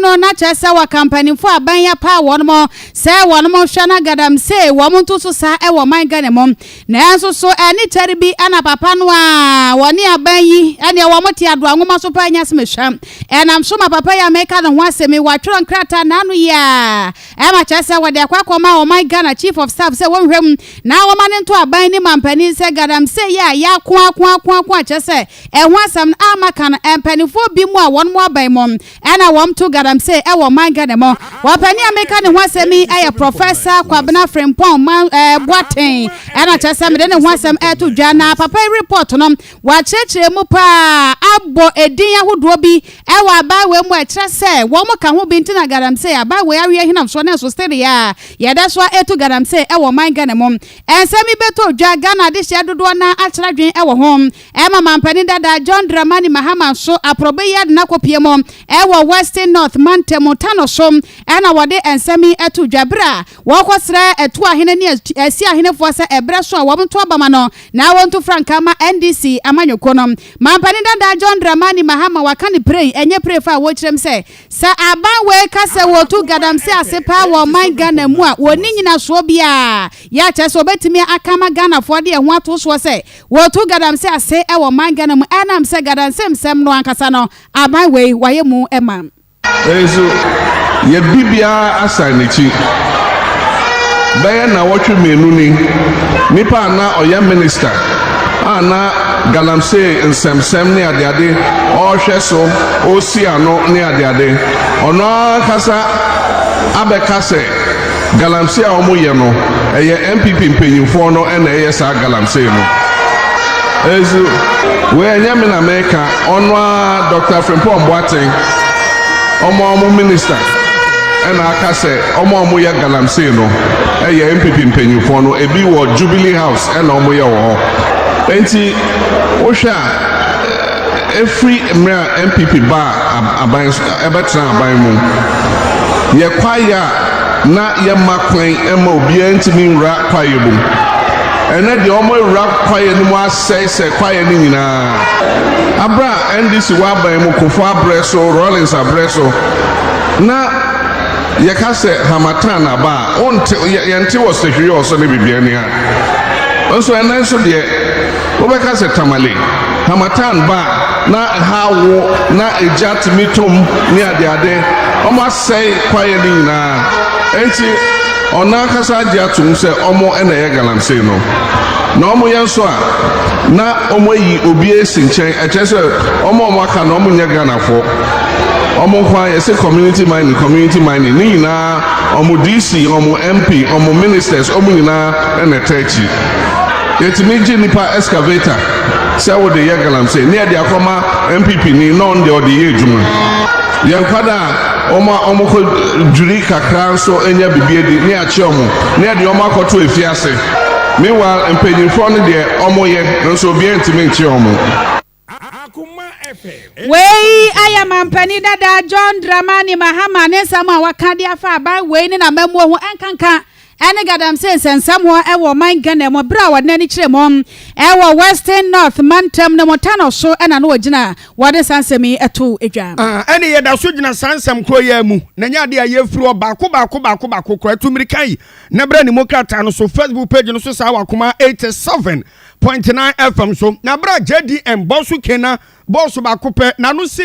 no na kyerɛ sɛ wɔka mpanyimfo a aban yi apaw wɔn sɛ wɔnhwɛ na galamsey wɔn nto so sa wɔ ɔman Ghana mu. Nanso so ɛne kyɛre bi na papa no a wɔne aban yi neɛ wɔte adoa nwoma so paa nya asɛm ɛsua? Ɛnam so ma papa yi a meka ne ho asɛm yi wɔatwerɛ nkrataa naano yi a ɛma kyerɛ sɛ wɔde akɔ akɔma ɔman Ghana Chief of Staff sɛ wɔnhwɛ mu na wɔma no nto aban ne mampanin sɛ galamsey yi a yɛako ako ako ako a kyerɛ sɛ Ɛho asɛm no amma ka no, mpaninfoɔ bi mo a wɔn mo aban mo na wɔn to galamsey ɛwɔ ɔman Ghana mu. Ɔpanin a meka ne ho asɛm yi ɛyɛ Prɔfɛsa Kwabena Frimpong Man ɛɛ Boateng ɛna kyerɛ sɛ mede ne ho asɛm ɛɛto dwa na papa yi report no wakyerɛkyerɛ mu paa abɔ ɛdin ahodoɔ bi ɛwɔ aban wei mu a ɛkyerɛ sɛ wɔn mo ka ho bi nti na galamsey aban wei awe ahinam soɔ nanso sɛdeɛ a yɛda so a ɛtu galamsey ɛwɔ ɔman Ghana mu ɛnsɛm yi bɛtɔ dwa Ghana adehyeɛ dodoɔ no ara akyerɛ adwene ɛwɔ ho Ɛma mampanin dada John Dramani Mahama nso aprɔbe yi ade no akɔpue mu wɔ Western North mantam Tano so na wɔde nsɛm yi ato dwa bere a wɔrekɔsrɛ Atuahene ne Asiahenefoɔ sɛ ɛberɛ so a wɔnto aba ma no na wɔntu frankaa ma NDC amanyɔkuo no. Mampanin dada John Dramani Mahama waka no pirei, ɛnyɛ pirefa a wɔrekyerɛm sɛ sɛ aban wei ka sɛ wɔretu galamsey ase paa wɔ ɔman Ghana mu a wɔnni nyinasoɔ biara yɛ a kyerɛ sɛ wɔbɛtumi aka ama Ghanafoɔ de ɛho ato soɔ sɛ Wɔto gadanse ase wɔ man Ghana mu ɛnam sɛ gadansemsɛm no ankasa no aban wei wayɛ mu ma. Nanso yɛ bibiaa asan nakyi. Bɛyɛ nnawɔtwe mmienu ni, nipa a na ɔyɛ minista a na galamsee nsɛmsɛm ne adeade ɔɔhwɛ so, ɔɔsi ano ne adeade, ɔno ankasa abɛka sɛ, Galamsey a ɔmo yɛ no ɛyɛ NPP mpanyinfoɔ no ɛna ɛyɛ saa galamsey no ɛzu wei ɛnyɛ me na meka ɔno aa Doctor Frimpong Boateng ɔmo a ɔmo minister ɛna aka sɛ ɔmo a ɔmo yɛ galamsey no ɛyɛ NPP mpanyinfoɔ no ebi wɔ Jubilee house ɛna ɔmo yɛ wɔ hɔ enti wohwɛ a. Ɛfiri mmerɛ a NPP baa aban so, ɛbɛtenaa aban mu, yɛ kwaeɛ a na yɛmma kwan mma obiara ntumi nwura kwaeɛ no mu. Ɛnnɛ deɛ wɔawura kwaeɛ no mu asɛe sɛ kwaeɛ no nyinaa. Aberɛ a NDC wɔ aban mu, Kufuor aberɛ so, Rawlings aberɛ so, na yɛka sɛ harmattan aba a, wonte, yɛnte wɔ Sihwior so ne biribiara ni a. Nso ɛnnɛ nso deɛ. Wobɛka sɛ Tamale, Harmattan ba a na ɛhaw wo na egya tumi tom ne adeade. Wɔasɛe kwaeɛ no nyinaa. Enti ɔno ankasa agye atom sɛ wɔn na ɛyɛ galamsey no. Na wɔyɛ nso a, na wɔayi obi asi nkyɛn. Ɛkyerɛ sɛ wɔn a wɔaka no wɔnyɛ Ghanafoɔ. Wɔn nko ara yɛse community mining, community mining. Ne nyinaa wɔn DC, wɔn MP, wɔn ministers, wɔn nyinaa na ɛtaa akyi. Yɛtumi gye nipa excavator sɛ wode yɛ galamsey ne yɛde akɔma NPP ni na ɔno deɛ ɔde yɛ adwuma. Yɛn nkwadaa a wɔn a wɔkɔ dwiri kakra nso nya biribi adi ne yɛakyɛ wɔn na yɛde wɔn akɔto afiase. Meanwhile mpanyinfoɔ no deɛ wɔyɛ nanso obiara ntumi nkye wɔn. Wei ayɛ mampanin dada John Dramani Mahama ne nsɛm a waka de afa aban wei ne n'amammuo ho nkanka ne galamsey nsɛnsɛmmoɔ wɔ ɔman Ghana mu berɛ a wɔde n'ani kyerɛ mu wɔ Western North mantam no mu Tano so na na ɔgyina wɔde saa nsɛm yi to dwa. Ɛne yɛda so gyina saa nsɛm korɔ yi ara mu na ɛnyɛ adeɛ a yɛfiri hɔ baako baako baako baako kora atu mmirika yi na berɛ ne mu krataa no so Facebook page no so saa wɔ akoma 87 Point nine FM so na bere a JDM bɔ so Kena bɔɔso baako pɛ na no si.